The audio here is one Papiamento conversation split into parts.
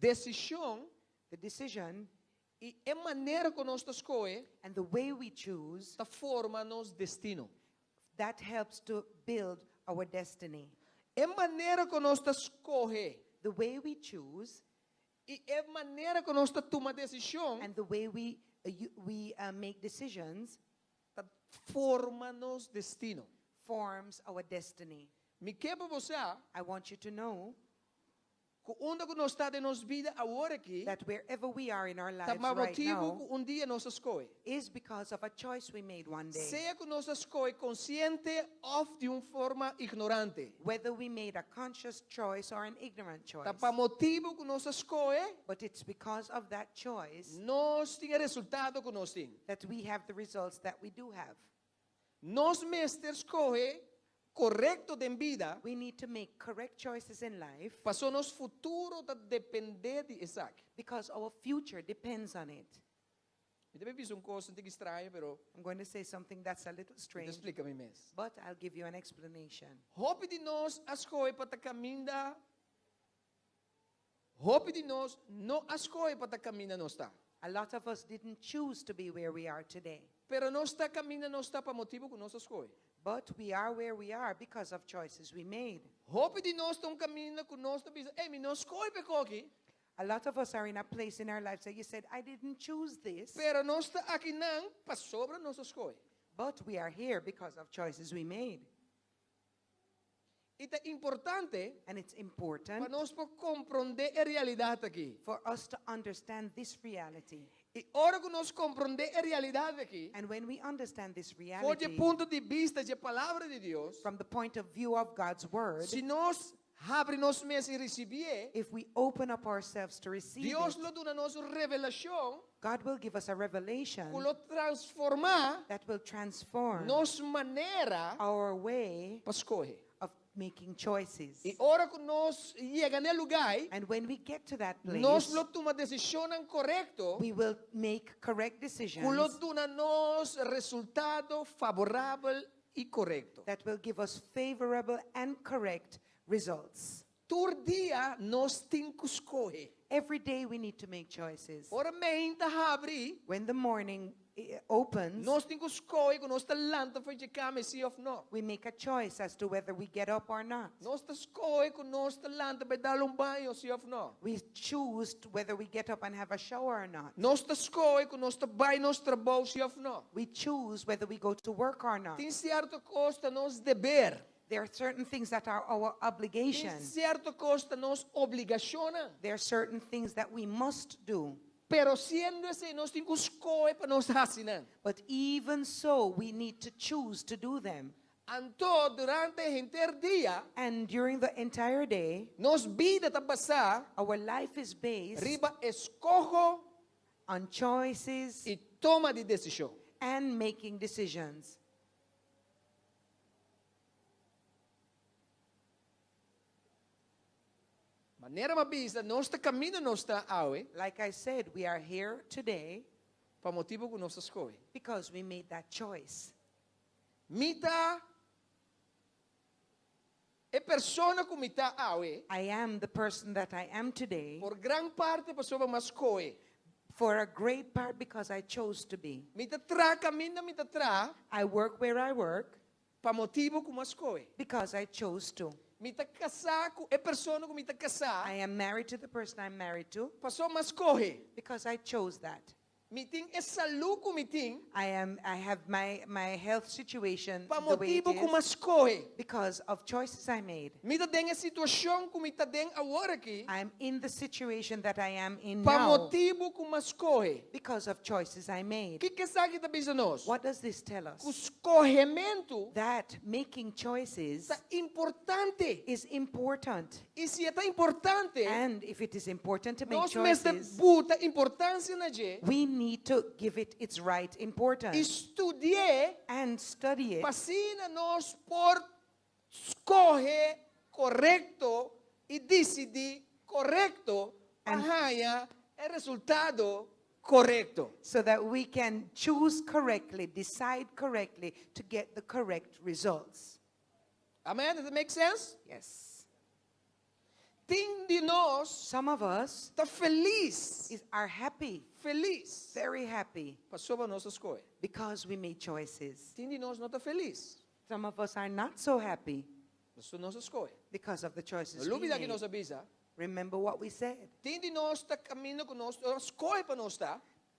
Desishon. The decision. I e manera ku nos ta skohe. And the way we choose. Ta forma nos destino. That helps to build our destiny. E manera ku nos ta skohe. The way we choose. I e manera ku nos ta tuma desishon. And the way we we make decisions. Ta forma nos destino. Forms our destiny. Mi ke pa bo sa. I want you to know. Ku unda ku nos ta den nos bida awor aki, that wherever we are in our ta lives pa right motibu now, ku un dia nos a skohe. is because of a choice we made one day. Sea ku nos a skohe konsiente òf di un forma ignorante. Whether we made a conscious choice or an ignorant Ta pa choice. motibu ku nos a skohe. But it's because of that choice. nos tin e resultado ku nos tin. that we have the results that we do have. Nos mester skohe korekto den bida. We need to make correct choices in life. Paso nos futuro ta depende di esaki. Because our future depends on it. Mi ta bisa un kos un tiki straño, pero. I'm going to say something that's a little strange. Mi ta splika mi mes. But I'll give you an explanation. Hopi di nos a skohe pa ta kaminda. Hopi di nos no a skohe pa ta kaminda nos ta. A lot of us didn't choose to be where we are today. Pero nos ta kaminda nos ta pa motibu ku nos a skohe. But we are where we are because of choices we made. Hopi di nos ta un kaminda ku nos ta bisa, Ey, mi no skohe pa e kos aki. A lot of us are in a place in our lives that you said, I didn't choose this. Pero nos ta akinan pasobra nos a skohe. But we are here because of choices we made. I ta importante pa nos por komprondé e realidat akí. I ora ku nos komprondé e realidat akí for dje punto di bista dje Palabra di Dios, si nos habri nos mes i risibí e, Dios lo duna nos un revelashon God will give us a revelation. Cu lo transforma. That will transform. Nos manera. Our way. Pa scohe. Of making choices. Y ora cu nos yega n'e lugai. And when we get to that place. Nos lo tuma decisionnan corecto. We will make correct decisions. Cu lo duna nos resultado favorabel y corecto. That will give us favorable and correct results. Tur dia nos tin ku skohe. Every day we need to make choices. Ora meinta ta habri. When the morning opens. Nos tin ku skohe ku nos ta lanta for dje kama si òf no. We make a choice as to whether we get up or not. Nos ta skohe ku nos ta lanta pa e dal un baño si òf no. We choose whether we get up and have a shower or not. Nos ta skohe ku nos ta bai nos trabou si òf no. We choose whether we go to work or not. Tin sierto kos ta nos deber. There are certain things that are our Tin obligations. cierto cos ta nos obligacionnan. There are certain things that we must do. Pero siendo esey nos tin cu scohe pa nos haci nan. But even so, we need to choose to do them. Anto durante e henter dia And during the entire day, nos bida ta basá our life is based riba escoho on choices y toma di decision. and making decisions. Manera m'a bisa, nos ta kaminda nos ta awe. Like I said, we are here today. Pa motibu ku nos a skohe. Because we made that choice. Mi ta. E persona ku mi ta awe. I am the person that I am today. Por gran parti pasobra mi a skohe. For a great part because I chose to be. Mi ta traha kaminda mi ta traha. I work where I work. Pa motibu ku mi a skohe. Because I chose to. Mi ta kasá ku e persona ku mi ta kasá. I am married to the person I am married to. Pasobra mi a skohe. Because I chose that. Mi tin e salú ku mi tin. I am I have my my health situation the way it is. Pa motibu ku m'a skohe. Because of choices I made. Mi ta den e situashon ku mi ta den awor aki. I am in the situation that I am in now. Pa motibu ku m'a skohe. Because of choices I made. Kiko esaki ta bisa nos? What does this tell us? Ku skohementu. That making choices. Ta importante. Is important. I si e ta importante, And if it is important to make nos mester choices, buta importansia na dje we need to give it its right i importance studi'é and study it pa asina nos por skohe korekto i disidí korekto pa And- haña e resultado korekto. so that we can choose correctly, decide correctly to get the correct results. Amen, does it make sense? Yes. Tin di nos Some of us ta felis, is, are happy, felis, very happy, pasoba nos a skohe. because we made choices. Tin di nos no ta felis, Some of us are not so happy paso nos a skohe. because of the No choices we lubida ki nos a made. bisa, Remember what we said. tin di nos ta kaminda ku nos a skohe pa nos ta.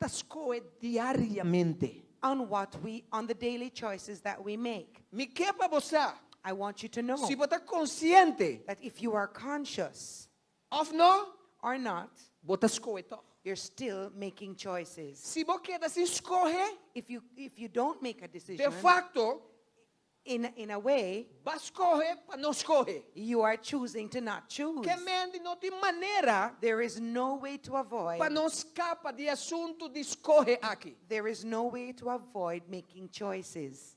ta scohe diariamente. On what we, on the daily choices that we make. Mi ke pa bo sa. I want you to know. Si bo ta consciente. That if you are conscious. Of no. Or not. Bo ta scohe tog. You're still making choices. Si bo keda sin scohe. If you, if you don't make a decision. De facto. In a in a way. Ba skohe pa no skohe. You are choosing to not choose. Kemendi no tin manera. There is no way to avoid. Pa no skapa di e asuntu di skohe aki. There is no way to avoid making choices.